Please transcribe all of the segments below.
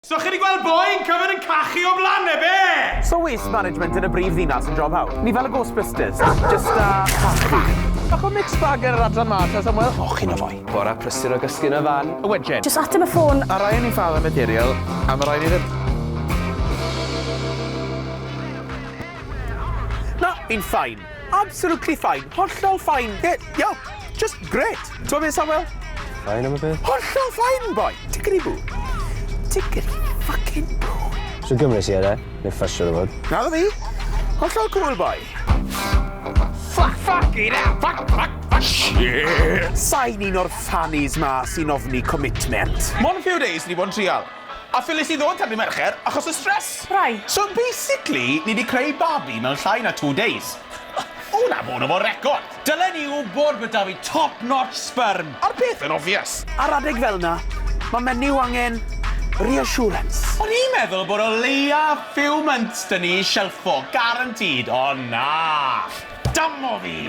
So chi di gweld boi yn cyfed yn cachu o blan e, be? So waste management yn y brif ddinas yn job hawdd? Ni fel y Ghostbusters, just da cachu. Bach o mixed bag ar yr adran ma, ta Samuel? O, chi'n o foi. Bora prysur o gysgu yn y fan. A wedyn? Just ateb y ffôn. A rhaid ni'n ffal y material, a mae rhaid ni ddim. Na, fi'n fine. Absolutely fine. Hollol fine. Ie, iawn. Just grêt. T'mo' be' Samuel? Fine am y peth. Hollol fine, boi. Tickety-boo. Tickety fucking boo. Shwd Gymraes i e de? Neu Ffish siŵr o fod. Naddo fi. Hollol cŵl, boi. Fuck, fuck, you know, fuck, fuck, fuck. Shit! Sain un o'r fannies 'ma sy'n ofni commitment. Mond few days ni bod yn trial. A Phyllis i ddod tan ddy Mercher achos y stress. Rai. So basically ni di creu babi mewn llai na two days. Ww na fo na fo record. Dylen i wbod bod da fi top notch sperm. A'r peth yn obvious. Ar adeg fel na ma menyw angen reassurance. O'n i'n meddwl bod o leia few months da ni i shelffo, guaranteed, ond na! Damo fi!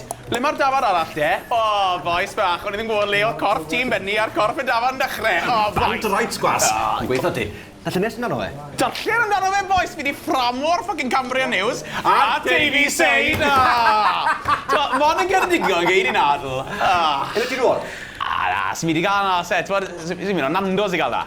Ble mae'r dafarn arall de? O, bois bach, o'n i ddim yn gwybod le oedd corff Tîm Benni a'r corff y dafarn dechrau. O, bois! Band o rights gwas! Yn gweithio ti. Darllen nes amdano fe. Darllen amdano fe, bois! Fi 'di fframo'r ffycin Cambrian News a Davy Sain! O! T'mod, mond yn Ceredigion gei di nadl. O! Ble ti'n nôl? O, na, swn i 'di gael 'na, oes e? T'mod, swn i'n mynd o Nando's i gael 'na.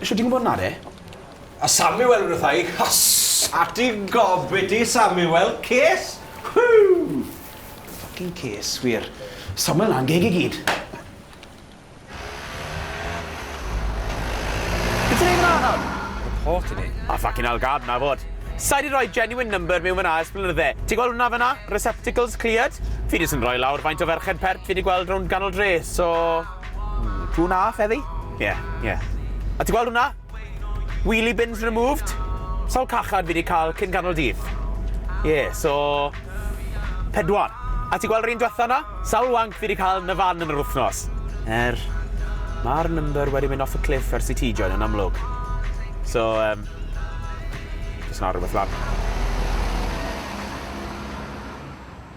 Shwt ti'n gwybod 'na de? A Samuel ryddhau ei hys. A ti gofid ti Samuel, ces! Whoo! Fucking ces, wir. Samuel 'na'n geg i gyd. Be' ti'n neud fynna nawr? Report i ni. A fucking hell gad 'na fod. Sai 'di roi genuine number miwn fynna ers blynydde. Ti'n gweld hwnna fynna? Receptacles cleared? Fi jyst yn roi lawr faint o ferched pert fi 'di gweld rownd ganol dre, so... Two and a half heddi? Ie, ie. A ti'n gweld hwnna? Wheelie bins removed. Sawl cachan fi wedi cael cyn canol dydd? Ie, so... Pedwar. A ti'n gweld yr un diwetha yna? Sawl wank fi wedi cael yn y fan yn yr wythnos? Er, mae'r number wedi mynd off y cliff ers i ti join yn amlwg. So, um, just not rhywbeth lan.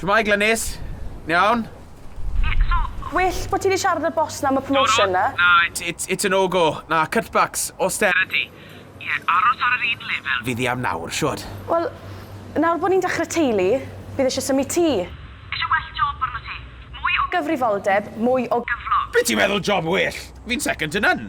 Shwmae Glynis? Yn iawn? Well bo ti di siarad â'r boss na am y promotion na? Na, it's it's a no go. Na, cutbacks, austerity. Ie, aros ar yr un lefel fydd hi am nawr, shwd? Wel, nawr bod ni'n dechrau teulu, bydd eisiau symud tŷ. Eisiau well job arnot ti. Mwy o gyfrifoldeb, mwy o gyflog. Be ti'n meddwl job well? Fi'n second to none.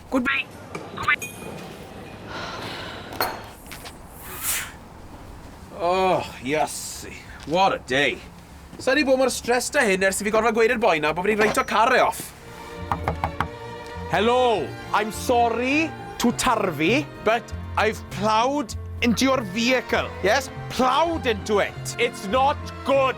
Good mate. Good mate. Oh, yassi. What a day. Sa'n ni bod mor stressed a hyn ers i fi gorfod gweud i'r boi na bod fi'n reitio car e off. Hello, I'm sorry to tarfu, but I've ploughed into your vehicle. Yes, ploughed into it. It's not good.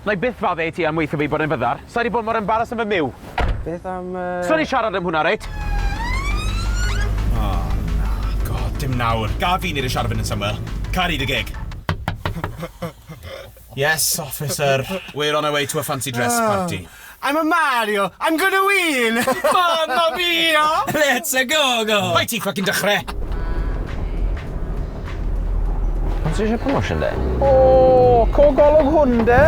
Wna i byth fadde i ti am weithio fi bod e'n fyddar. Sa i 'di bod mor embaras yn fy myw. Beth am... Yy... Sa ni'n siarad am hwnna, reit? O, na. God, dim nawr. Gad fi wneud y siarad yn syml. Caru dy geg. Yes, officer. We're on our way to a fancy dress party. I'm a Mario, I'm gonna win! Mamma mia! Let's a go go! Bai ti ffocin dechrau! Ond ti eisiau promotion de? O, co golwg hwn de?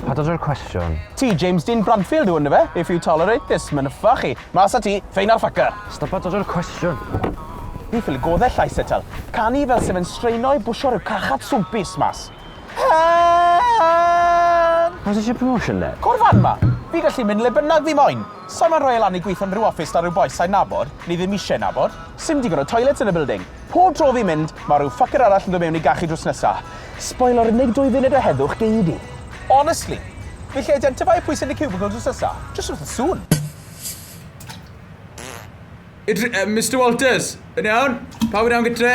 Pa dod o'r cwestiwn? Ti James Dean Bradfield yw ynddo fe? If you tolerate this, mae'n yffa chi. Mas a ti, ffein ar ffaca. Stop a dod o'r cwestiwn. Ni ffili goddell llais etal. Canu fel sef yn straeno i bwsio rhyw carchad swmpus mas. Hen! Os eisiau promotion de? Cwrdd fan 'ma! Fi gallu mynd le bynnag fi moyn! Sai'n moyn rhoi e lan i gweithio yn rhyw office 'da rhyw bois sai'n nabod, neu ddim isie nabod. Sim digon o toilets yn y building! Pob tro fi'n mynd, ma' rhyw fucker arall yn dod mewn i gachu drws nesa! Sboilo'r unig dwy funud o heddwch gei di! Honestly! Fi'n gallu identifeio pwy sy yn y cubicle drws nesa, jyst wrth y sŵn! Mister Walters! Yn iawn? Pawb yn iawn gytre?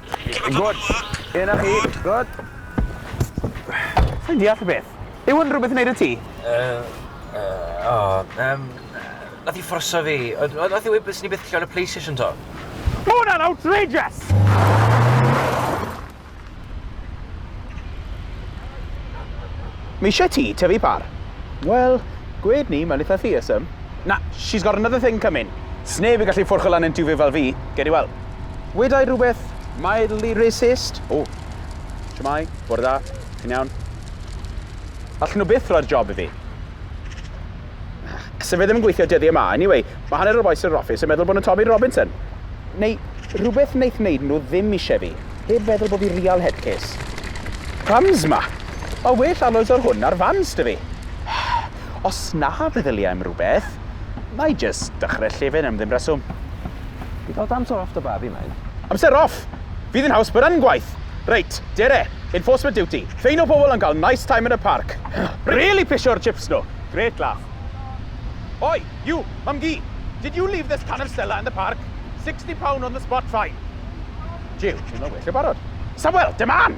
Good. Ie, na chi. Good. Sa'n deall y beth. Yw yn rhywbeth yn neud y ti? Uh, uh, o, um, nath i fforso fi. Nath i weud beth sy'n i beth lle o'n y PlayStation to. Mae hwnna'n outrageous! Mae eisiau ti tyfu par. Wel, gwed ni, mae'n eitha theism. Na, she's got another thing coming. Sneb i gallu ffwrch lan yn tiwfi fel fi, gedi weld. Wedai rhywbeth mildly racist. O! Shwmae, bore da, chi'n iawn? Allen nhw byth roi'r job i fi. Sa fe ddim yn gweithio dyddiau yma. Anyway, mae hanner o'r bois yn yr office yn meddwl bod nhw'n Tommy Robinson. Neu rhywbeth wnaeth wneud nhw ddim eisiau fi, heb feddwl bod fi real head case. Crumbs ma! Mae well alloys o'r hwn na'r fans da fi. Os na feddylia am rhywbeth, Nai jyst dechrau llefen am ddim reswm. Ti fod amser off dy babi mate? Amser off? Fydd yn haws bod yn gwaith! Reit, dere, enforcement duty, ffeino pobl am gael nice time yn y parc. Really pisio'r chips nhw! Great laugh. Oi, you, mam-gu! Did you leave this can of Stella in the park? Sixty pound on the spot fine. Jiw, dwi'n meddwl weithio barod. Samuel, dim an!